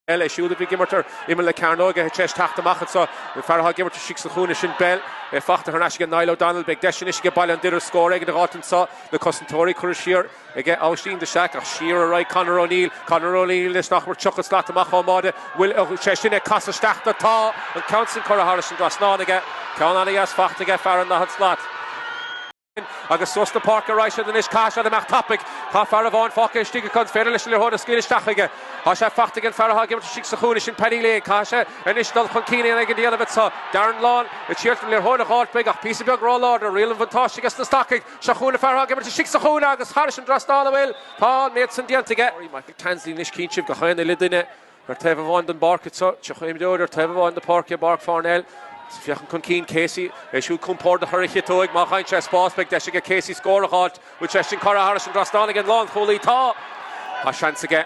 é siúd a bhí ag imirt ar imeall na cearnóige tar éis teacht amach annso. An fear athá ag imirt istigh sa chúinne sin Bell. É fachta thar n-ais aige Niall O Donnell. Beidh deis anois aige Baile an Doire scór éigin a dh'fháilt annso. Na cosantóirí curtha siar aige Aibhistín de Staic. Ach siar a raghaid. Conor O Neill. Conor O Neill anois nach mór tríocha slat amach ón mbáide. Bhfuil sé sin ag casadh isteach dó? Tá, an ceann san curtha thairis an dtrasnán aige. Ceann ana dheas fachta aige fear an daichead slat. Agus suas na páirce a raghaidh siad anois. Caithfidh siad imeacht tapaidh. Tá fear amháin fágtha istigh acu. An féidir leis an liathróid a scaoileadh isteach chuige? Tá sé fachta aige an fear atá ag imirt istigh sa chúinne, sin Paddy Lane. Caithfidh sé anois dul chun cinn éigin a dhéanamh anso. Darren Lawn a d'iarraidh an liathróid a dh'fháilt uaidh ach píosa beag róláidir. Riail an bhuntáiste aige sna Stacaigh. Seo chugainn an fear atá ag imirt istigh sa chúinne agus thairis an dtrasnán a bhfuil, tá an méid san déanta aige. Michael Tansley anois cinnte gach aon uile duine. Ar taobh amháin don bpáirce tríocha imreoir, ar taobh amháin na páirce i bPáirc Pharnell. Féachann chun cinn Casey, é siúd compordach ar a chiotóig. Má fhaigheann sé spás beidh deis aige Casey scór a dh'fháilt. Bhfuil sé sin curtha thairis an dtrasnán ag an lánchúlaí. Tá Tá seans aige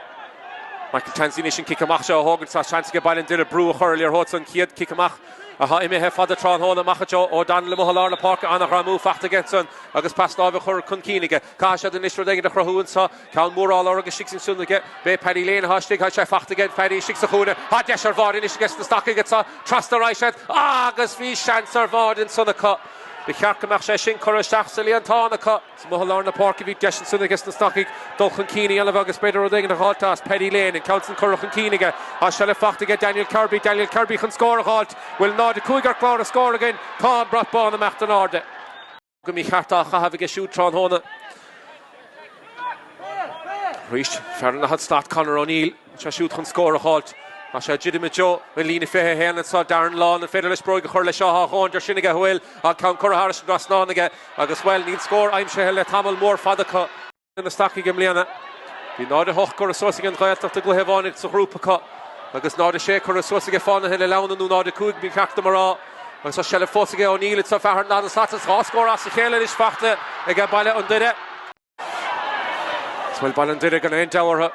Michael Tansley anois an cic amach seo a thógaint. Tá seans aige Baile an Doire brú a chur ar liathróid san chéad cic amach athá imithe fada tráthnóna amach anseo. O Donnell amuigh i lár na páirce an-ghreamú fachta aige ansan agus pas láimhe chur chun cinn aige. Caithfidh siad anois rud éigin a chruthú anseo. Ceann mór á lorg istigh ansan aige. B'é Paddy Lane athá istigh. Tá sé fachta aige Paddy istigh sa chúinne. Tá deis ar bháide anois aige sna Stacaigh anso. Trasna a raghaidh siad agus bhí seans ar bháide ansan acu. Ba cheart go mbeadh sé sin curtha isteach sa líontán acu. Is amuigh i lár na páirce bhí deis ansan aige sna Stacaigh dul chun cinn a dhéanamh agus b'fhéidir rud éigin a dh'fháilt as. Paddy Lane an ceann san curtha chun cinn aige. Tá seilbh fachta aige Daniel Kirby. Daniel Kirby chun scór a dh'fháilt. Bhfuil 0-5 ar clár na scór againn. Tá an brat bán ag imeacht in airde. go mícheart á chaitheamh aige siúd tráthnóna. Arís, fear an daichead slat Conor O'Neill, bhfuil sé siúd chun scór a fháilt. Tá sé ag druidim i dtreo an líne 21 anseo, Darren Lawn, an féidir leis bróig a chur le seo? Tá an deis sin aige a bhfuil an ceann curtha thairis an dtrasnán aige agus, bhuel, níl scór aimsithe le tamall mór fada acu. na Stacaigh i mbliana. Bhí 0, 8 curtha suas ag An Ghaeltacht i gcluiche amháin sa ghrúpa acu, agus 0, 6 curtha suas aige Fánaithe na Leamhna, nó 0, 5 ba cheart dom a rá, agus tá seilbh fós aige O'Neill, is é fear an daichead slat, agus dhá scór as a chéile anois fachta aige Baile an Doire. Is bhuel Baile an Doire gan aon deabhadh orthu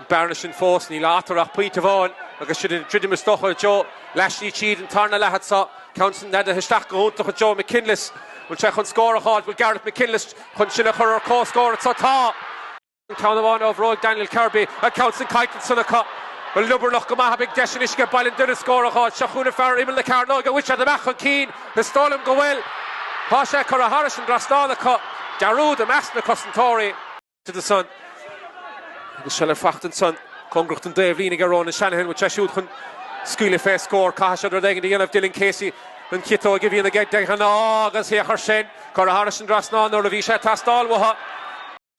an bearna sin fós, níl eatarthu ach pointe amháin agus siad ag druidim is dócha i dtreo leath slí tríd an tarna leath anso, ceann san neadaithe isteach go hiontach i dtreo McKinless, bhfuil sé chun scór a fháil, bhfuil Gareth McKinless. Chun sinn a chur ar comhscór annso tá an ceann amháin ó bhróig Daniel Kirby, an ceann san caillte annsan acu. Liobarnach go maith beidh deis anois aige Baile an Doire scór a dh'fháilt. Seo chugainn fear imeall na cearnóige a bhfuil siad amach chun cinn. Is dóigh liom go bhfuil. Tá sé curtha thairis an dtrasnán acu. Dearúd i measc na cosantóirí. annsan. Agus seilbh fachta annsan cóngarach don dtaobhlíne aige Ronan Shanahan. Bhfuil sé siúd chun scaoileadh fé scór? Caithfidh siad rud éigin a dhéanamh. Dylan Casey an chiotóig a bhíonn aige de ghnáth agus thiocfadh sin. Curtha thairis an dtrasnán nuair a bhí sé ag teastáil uathu.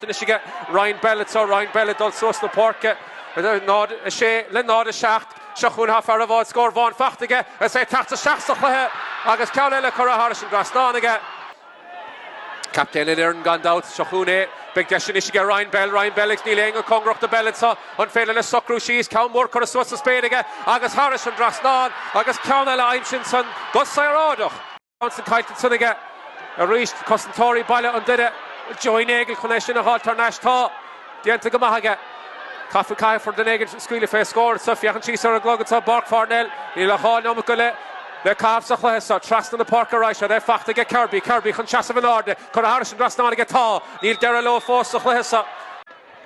Anois aige Ryan Bell anseo, Ryan Bell ag dul suas na páirce. 0-6 le 0-7. Seo chugainn Hoffe ar a bhfuil scór amháin fachta aige agus é ag teacht isteach sa chluiche agus ceann eile curtha thairis an dtrasnán aige. Captaen na foirne gan dabht. Seo chugainn é. Beidh deis anois aige Ryan Bell, Ryan Bell ag. Níl éinne cóngarach do Bell anseo. An féidir leis socrú síos? Ceann mór curtha suas sa spéir aige agus thairis an dtrasnán agus ceann eile aimsithe ansan go saoráideach. An ceann san caillte ansan aige arís, cosantóirí Baile an Doire, Joey Nagle chun é sin a dh'fháil thar n-ais. Tá déanta go maith aige. Caithfidh, caithfear duine éigin scaoileadh fé scór anso. Féachaint síos ar an gclog anso i bPáirc Pharnell. Níl ach dhá neomat go leith le caitheamh sa chluiche so. Trasna na páirce arís ar sé. Fachta aige Kirby. Kirby chun seasamh in airde. Curtha thairis an dtrasnán aige. Tá. Níl deireadh leo fós sa chluiche so.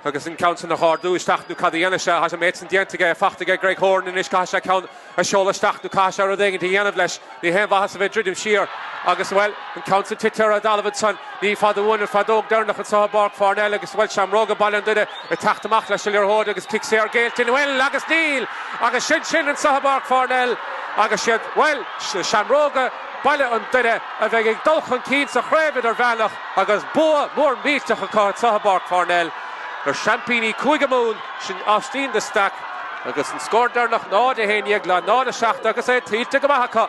agus an ceann san a dh'árdú isteach nú cad a dhéanfadh sé. Thá an méid san déanta aige, fachta aige Greg Horan anois, caithfidh sé ceann a sheoladh isteach nú caithfidh sé rud éigint a dhéanamh leis. Ní haon mhaitheas a bheith ag druidim siar agus, bhuel, an ceann san tite ar a' dtalamh ansan. Ní fada uainn an feadóg deireannach anso i bPáirc Pharnell agus, bhuel, Seamróga Baile an Doire ag teacht amach leis a' liathróid agus cic saor géillte, an bhfuil, agus níl! Agus sin sin anso i bPáirc Pharnell agus 'siad, bhuel, Seamróga Baile an Doire a bheidh ag dul chun cinn sa Chraobh Idirmheánach. Agus bua mór millteach acu anseo i bPáirc Pharnell ar seaimpíní Chúige Mumhan, sin Austin de Staic agus an scór deireanach 0, 11 le 0, 7 agus é tuillte go maith acu.